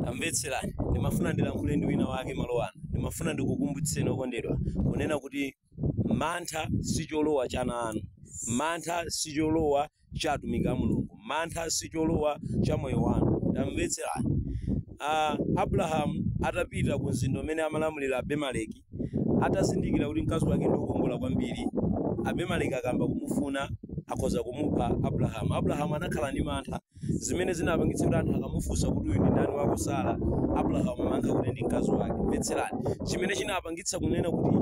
Tamvetserani, ndimafuna ndilankhule ndi winawake malo ano. Ndimafuna ndikukumbutseni, okondedwa, kunena kuti mantha si cholowa cha ana anu. Mantha si cholowa cha atumiki a Mulungu. Mantha si cholowa cha moyo wanu. Tamvetserani. A, Abrahamu atapita ku mzinda umene amalamulira Abimeleki, Atazindikira kuti mkazi wake ndi wokongola kwambiri, Abimeleki akayamba kumufuna, akhoza kumupha Abulahamu. Abulahamu anakhala ndi mantha, zimene zinapangitsa kuti anthu akamufunsa kuti, Uyu ndi ndani wako Sara? Abulahamu amayankha kuti ndi mkazi wake. Mvetserani chimene chinapangitsa kunena kuti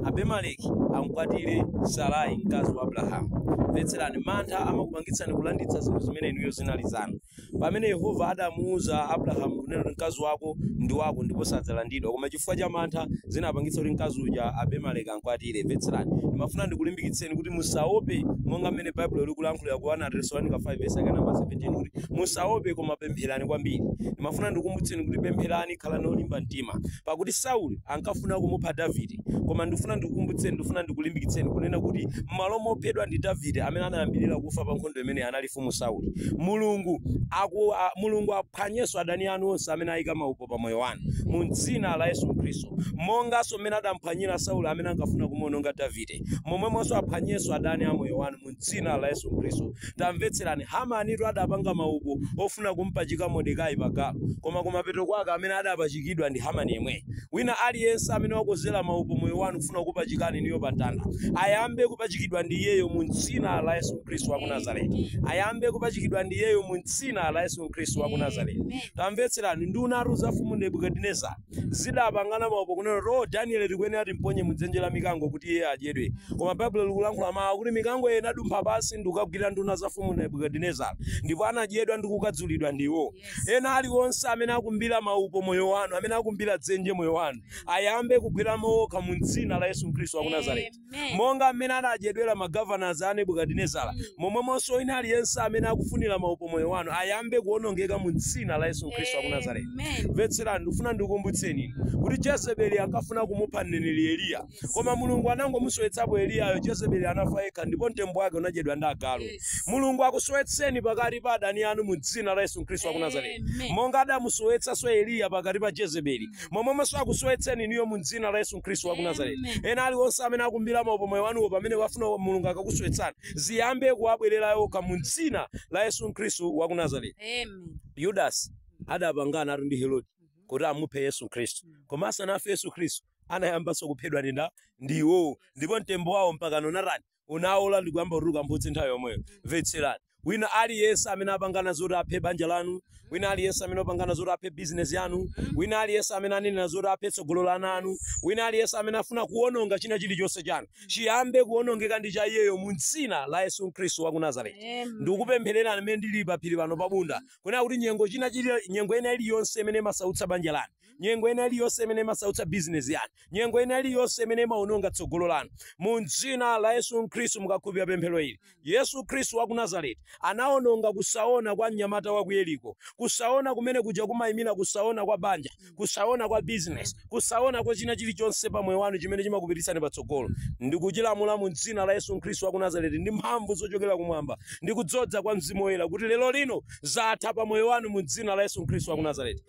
Abimeleki am'kwatire Sarai, mkazi wa Abulahamu. Mvetserani, mantha amakupangitsani kulanditsa zinthu zimene inuyo zinali zanu. Pamene Yehova adamuuza Abrahamu kunena kuti mkazi wako ndi wako ndipo sadzalanditsa, koma chifukwa cha mantha zinapangitsa kuti mkazi uja Abimeleki amkwatire. Mvetserani. Ndimafuna ndikulimbikitseni kuti musaope monga mmene Baibulo likulankhulira ku 1 Atesalonika 5 vesi yake namba 17 kuti musaope koma pempherani kwambiri. Ndimafuna ndikukumbutseni kuti pempherani, khalani olimba mtima. Pakuti Sauli ankafuna kumupha Davide, koma ndikufuna ndikukumbutseni, ndikufuna ndikulimbikitseni kunena kuti m'malo mophedwa ndi Davide amene anayambirira kufa pa nkhondo imeneyi anali Mfumu Sauli. Mulungu, aku, a, Mulungu aphwanyenso adani anu onse amene ayika maupo pa moyo wanu mu dzina la Yesu Khristu. Monganso mmene adamphwanyira Sauli amene ankafuna kumuwononga Davide, momwemonso aphwanyenso adani a moyo wanu mu dzina la Yesu Khristu. Tamvetserani, Hamanitu adapanga maupo ofuna kumpachika Mordekai pa galu, koma kumapeto kwake amene adapachikidwa ndi Hamani yemweyo. Wina aliyense amene wakozera maupo moyo wanu kufuna kukupachikani inuyo pa mtanda, ayambe kupachikidwa ndi Iyeyo mu Dzina la Yesu Khristu wa ku Nazareti. Ayambe kupachikidwa ndi Iyeyo mu Dzina la Yesu Khristu wa ku Nazareti. Tamvetserani, nduna tu za mfumu Nebukadinezara zidapangana maupo kunena kuti, oh, Danieli tikuyenera timponye mu dzenje la mikango kuti iye adyedwe. Koma Baibulo likulankhula mawu akuti mikango iyo inadumpha pansi ndi kukagwira nduna za mfumu Nebukadinezara, ndipo anadyedwa ndi kukhadzulidwa ndi iwo. Ena aliwonse amene akumbira maupo moyo wanu, amene akumbira dzenje moyo wanu, ayambe kugweramo okha mu dzina la Yesu Khristu wa ku Nazareti. Amen. Monga mmene anadyedwera magovernors a Nebukadinezara, momwemonso wina aliyense amene akufunira maupo moyo wanu ayambe kuwonongeka mu dzina la Yesu Khristu wa ku Nazareti. Amen. mvetserani ndikufuna ndikukumbutseni inu kuti jezebeli ankafuna kumupha mneneri eliya Koma Mulungu anangomusowetsapo Eliyayo, Jezebeli anafa yekha ndipo mtembo wake unadyedwa ndi agalu. Mulungu akusowetseni pakati pa adani anu mu dzina la Yesu Khristu wa ku Nazareti. Amen. Monga adamusowetsanso Eliya pakati pa Jezebeli, momwemonso akusowetseni inuyo mu dzina la Yesu Khristu wa ku Nazareti. Amen. Ena aliwonse amene akumbira maupo moyo wanuwo pamene wafuna wa- Mulungu akakusowetsani, ziyambe kuwabwerera iwo okha mu dzina la Yesu Khristu wa ku Nazareti. Amen. yudasi adapanganatu ndi herode kuti amuphe yesu khristu koma asanafe yesu khristu anayambanso kuphedwa ndi ndani ndi iwowo ndipo mtembo wawo mpakano unatani unaola ndi kuyamba kutuluka mphutsi nthawi yomweyo mvetserani wina aliyense amene apangana zoti aphe banja lanu wina aliyense amene apangana zoti aphe bizinesi yanu wina aliyense amene anenera zoti aphe tsogolo la ana anu wina aliyense amene afuna kuwononga china chilichonse chanu chiyambe kuwonongeka ndi cha iyeyo mu dzina la yesu khristu wa ku nazareti Amen. ndikupemphererani mmene ndili paphiri pano pabunda kunena kuti nyengo china chili nyengo ina iliyonse imene imasautsa banja lanu nyengo ina iliyonse imene imasautsa bizinesi yanu nyengo ina iliyonse imene imaononga tsogolo lanu mu dzina la yesu khristu mukakhulupirira pemphero ili yesu khristu wa ku nazareti anaononga kusaona kwa mnyamata wa ku yeriko kusaona kumene kuja kumayimira kusaona kwa banja kusaona kwa bizinesi kusaona kwa china chilichonse pa moyo wanu chimene chimakupititsani patsogolo ndikuchilamula mu dzina la yesu khristu wa ku nazareti ndi mphamvu zochokera kumwamba ndi kudzodza kwa mzimu woyera kuti lero lino zatha pa moyo wanu mu dzina la yesu khristu wa ku nazareti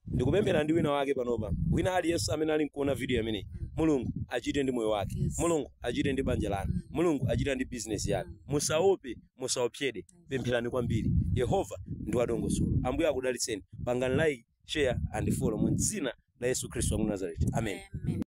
ndikupemphera ndi wina wake panopa wina aliyense amene ali nkuona video imeneyi mulungu achite ndi moyo wake Yes. mulungu achite ndi banja lanu mulungu achite ndi bizinesi yanu musaope musaopsedwe pempherani kwambiri yehova ndi wadongosolo ambuye akudalitseni pangani like share and follow mu dzina la yesu khristu wa ku nazareti amen Amen.